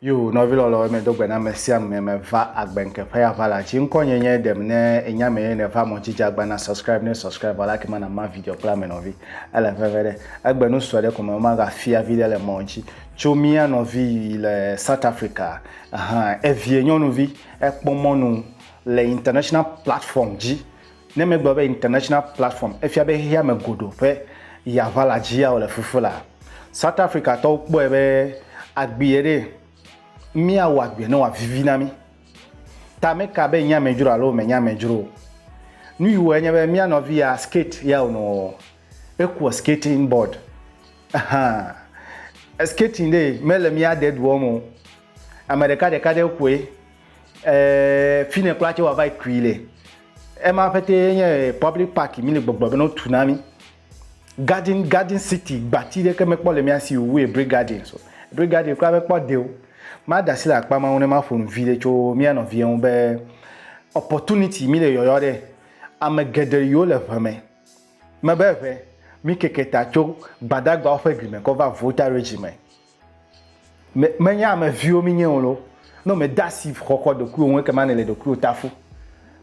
Yo, nɔvi lɔlɔ eme do gbe na ame sia ame me va agbe nke ƒe ya va la ci ŋkɔ nye nye dem ne enya me ye ne va mɔ ci dza gba na subscribe ne subscribe va la ke ma na ma video kple ame nɔvi. Ele veve ɖe egbe nu sue ɖe ko me womagafia viɖe le mɔ ŋuti. Tso mía nɔvi yi le South Africa hã, evie nyɔnuvi ekpɔ mɔnu le international platform dzi. Ne megblɔ be international platform, efia be xexea me godo ƒe ya ʋala dzia wòle fufu la, South Africa tɔwo kpɔe be agbeɛ ɖee, míawɔ agbeɛ ne wòavivi na mí. Ta meka be nye amedzro alo menye amedzro o. Nu yi wɔe nye be mía nɔvi ya skate ya wònɔ wɔwɔ. Ekua skating board. Ahan. Skating ɖee, mele mía de dua me o. Ame ɖeka ɖeka ɖe kɔe. Ɛɛ, fi yi ne kura tse wòava yi kui le. Ema ƒete ye nye public park mi le gbɔgblɔ bene wotu na mí. Garden, garden city, gbati ɖeke mekpɔ le mía si o wu Hebraic Gardens o. Hebraic Gardens kura mekpɔ de o. Made asi le akpa ma ŋu ne maƒo nu viɖe tso mía nɔvia ŋu be opportunity mi le yɔyɔ ɖe. Ame geɖe yiwo le ŋe me. Mebe ŋe, mi keke ta tso Gbadagbawo ƒe gli me kɔ va Volta Region me. Me, menye ame viwo mienye o loo. Ne mède asi xɔxɔ ɖokuiwò ŋu ekema nèle ɖokuiwò ta fu.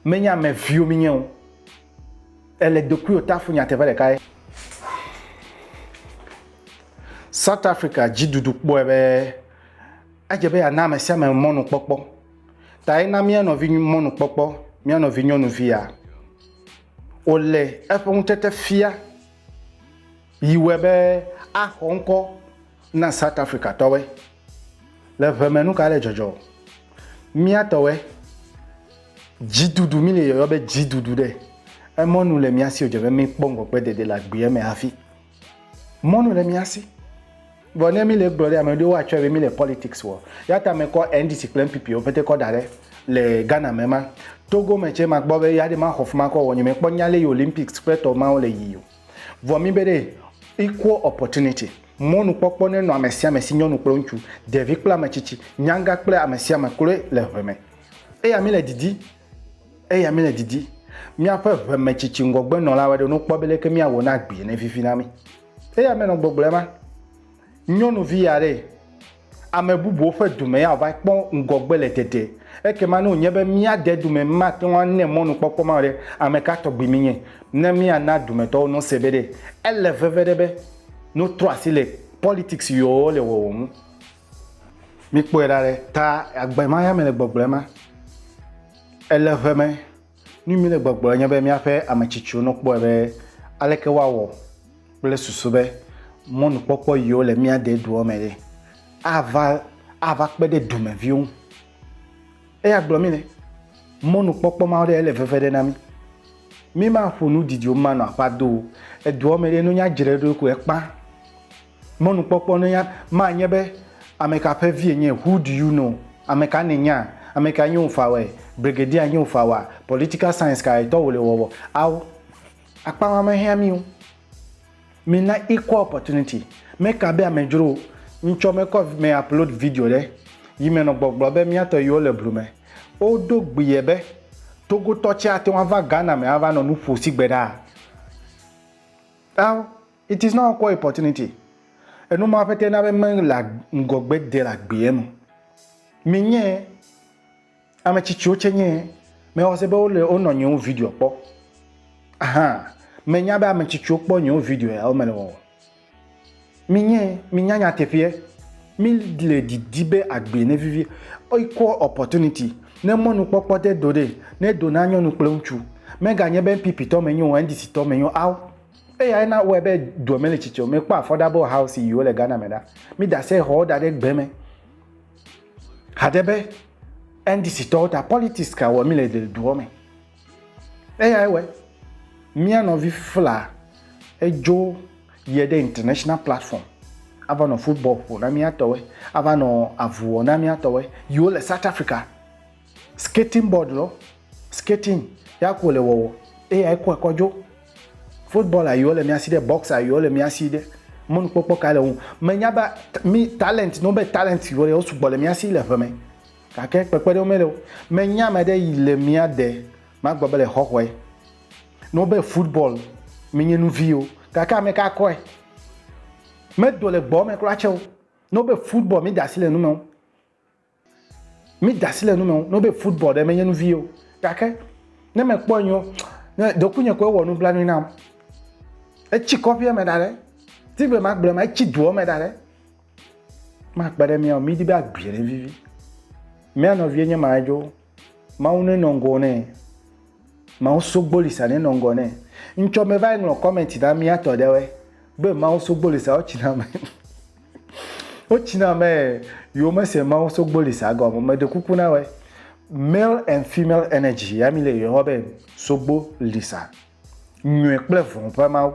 Menye ame viwo mienye o. Èle ɖokuiwò ta fu nyateƒe ɖeka ye. South Africa dziɖuɖu kpɔe be edze be yeana ame sia ame mɔnukpɔkpɔ. Ta ena mía nɔvi mɔnukpɔkpɔ, mía nɔvi nyɔnuvia. Wòle eƒe ŋutete fia Yi wɔe be axɔ ŋkɔ na South Africa tɔwɔe le ʋe me nuka le dzɔdzɔ o. Mía tɔwɔe dzidudu mi le yɔyɔ be dzidudu ɖe emɔnu le mía si o dze be mi kpɔ ŋgɔgbe dede le agbeɛ me hafi. Mɔnu le mía si. Vɔ ne mi le gblɔ ɖe ame ɖewo wa tsɔe be mi le politics wɔ. Yata me kɔ NDC kple NPP wo pete kɔ da ɖe le Ghana me ma. Togo me tse ma gbɔ be ya ɖe ma xɔ fima kɔ wɔ nye me kpɔ nya le yi Olympics kple tɔ mawo le yi o. Vɔ mí be ɖe equal opportunity, mɔnukpɔkpɔ nenɔ amesiame si nyɔnu kple ŋutsu, ɖevi kple ametsitsi, nyagã kple amesiame kloe le ʋe me. Eya mí le didi, eya mí le didi, míaƒe ʋe me tsitsi ŋgɔgbe nɔlawo aɖe no kpɔ be leke mía wɔ ne agbee ne vivi na mí. Eya mí nɔ gbɔgblɔe ma. Nyɔnuvi aɖe. Ame bubuwo ƒe dome ya va kpɔ ŋgɔgbe le dede. Ekema ne wònye be mía dedome mate ŋu ane mɔnukpɔkpɔ ma o ɖe, ame ka tɔgbi míenye? Ne míana dumetɔwo nose be ɖe ele veve ɖe be notrɔ asi le politics yoo le wɔwɔ ŋu. Míkpɔe ɖa ɖe ta agbe ma ya me le gbɔgblɔe ma. Ele ʋe me. Nu mi le gbɔgblɔ nye be míaƒe ame tsitsiwo no kpɔe be aleke woawɔ kple susu be mɔnukpɔkpɔ yiwo le mía de doa me ɖe ava ava kpe ɖe dumeviwo ŋu. Eya gblɔ mi le mɔnukpɔkpɔ ma ɖe ele veve ɖe na mi. Mi ma ƒo nu didiwo ma nɔ aƒa do o. Edoa me ɖe no nya dzre ɖo ko ekpa. Mɔnukpɔkpɔ na ya ma nye be, Ameka ƒe vie nye? Who do you know? Ameka nènya? Ameka nye wò fawɛ? Brigadier nye wò fawa? Political science kae tɔ wòle wɔwɔ? Ao, akpama mehiã mí o. Mina equal opportunity. Meka be amedzro o. Ŋtsɔ mekɔ me upload video ɖe yi me nɔ gbɔgblɔ be mía tɔ yiwo le blu me. Wodo gbie be Togotɔ tsɛ ate ŋu ava Ghana me ava nɔ nu ƒo sigbe ɖaa. Ao. It is not equal opportunity. Enu ma ƒete na be mele ŋgɔgbe de le agbeɛ me. Mi nye ame tsitsiwo tse nye mewɔ se be wole wonɔ nyewo video kpɔ. Ahan, menya be ame tsitsiwo kpɔ nyewo video ya womele wɔwɔ. Mi nye mi nya nyateƒeɛ. Mi le didi be agbe ne vivi. Equal opportunity. Ne mɔnukpɔkpɔ de do ɖe, ne do na nyɔnu kple ŋutsu. Mega nye be NPP tɔ me nyo, NDC tɔ me nyo, ao. Eyae na wɔe be dua mele tsitsi o. Mekpɔ affordable house yiwo le Ghana me ɖa. Mi da se xɔwo da ɖe gbe me. Hade be NDC tɔwo ta politics ka wɔ mi le duɔ me. Eyae wɔe. Mia nɔvi fla edzo yie ɖe international platform ava nɔ football ƒo na mía tɔwoe, ava nɔ avu wɔ na mía tɔwoe yiwo le South Africa. Skating board lɔ, skating ya ko le wɔwɔ eya yi kɔe kɔ dzo. Football ayi wole mia si ɖe, box ayi wole mia si ɖe, mɔnukpɔkpɔ ka le ŋu. Me nya ba mi talent no be talent yi wole sugbɔ le mia si le ʋe me. Gake kpekpe ɖe wo me le o. Me nya me ɖe yi le mia de ma gbɔ be le xɔxɔe no be football mi nye nu vi o. Gake ame ka kɔe? Me do le gbɔ me kura tse o no be football mi da si le nu me o. Mi dasi le nume no be football ɖe menye nuvi o. Gake ne mekpɔ nyo, ne ɖokuinye ko ewɔ nublanui nam. Etsi kɔƒea me da ɖe. Ti be magblɔ ma etsi doa me da ɖe. Makpe ɖe mia o. Mi di be agbia ɖe vivi. Mia nɔvie nye ma edzo. Mawu ne nɔ ŋgɔ nɛ. Mawu sogbo lisa ne nɔ ŋgɔ nɛ. Ŋtsɔ me va yi ŋlɔ comment na mia tɔ ɖe wɛ. Be Mawu sogbo lisa wo tsina me. wo tsina me yo me se Mawu sogbo lisa gɔ me de kuku na wɛ. Male and female energy ya mi le yo be sogbo lisa. nyui kple vɔ̃ ƒe Mawu.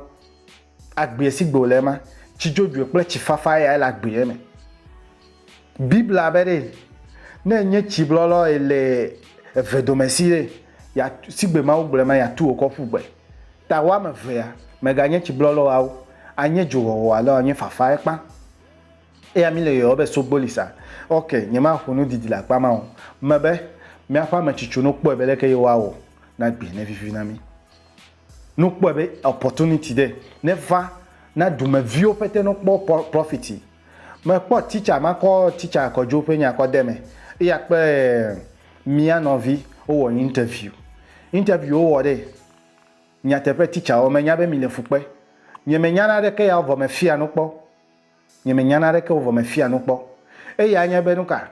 Agbee si gbe wòle ema, tsi dzodzoe kple tsi fafa yae le agbee me. Biblia be ɖe, ne enye tsi blɔlɔ ye le eve dome si ɖe, si gbe Mawu gblɔ ema, yeatu wò kɔ ƒu gbe. Ta woame evea, meganye tsi blɔlɔ alo anye dzowɔwɔ alo anye fafae kpã. Eya mi le yɔyɔ be sogboli sa. Ok, nyema ƒo nu didi le akpa ma o. Me be, miaƒe ame tsitso no kpɔe be leke ye woa wɔ na gbe ne vivi na mi. No kpɔe be opportunity de ne va na dume viwo pete no kpɔ profiti. Me kpɔ teacher ma kɔ teacher kɔ jo pe nya kɔ de me. Eya kpe mia nɔvi wo wɔ interview. Interview wo wɔ de nyateƒe teacher wo me nya be mi le fukpe. Nye me nya na ɖeke ya vɔ me fia no kpɔ. Nyemenya naneke o vɔ mefia nu kpɔ. Eya anye be nuka?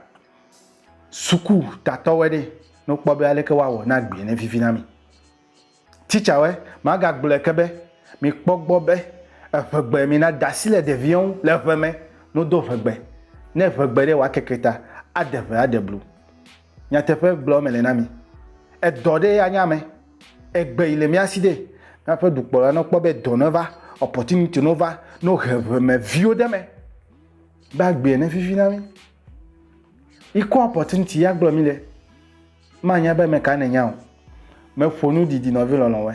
Suku tatɔwɔe ɖe ne wokpɔ be aleke woawɔ ne agbee ne vivi na mi. Titsawɔe, magagblɔe ke be, mikpɔ gbɔ be eŋegbe mina dasi le ɖeviɛ ŋu le ŋeme, no do ŋegbe. Ne eŋegbe ɖe wòakeke ta, aɖe ŋe aɖe blu. Nyateƒe gblɔ mele na mi. Edɔ ɖe anya ame. Egbe yi le mía si ɖe. Míaƒe dukplɔla no kpɔ be dɔ neva, opportunity no va, no he ʋeme viwo ɖe me. Be agbea ne vivi na mi. Yi kɔ opportunity ya gblɔ mi le. Manya be me ka ne nya o. Me ƒo nu didi nɔvi lɔlɔ̃ wɛ.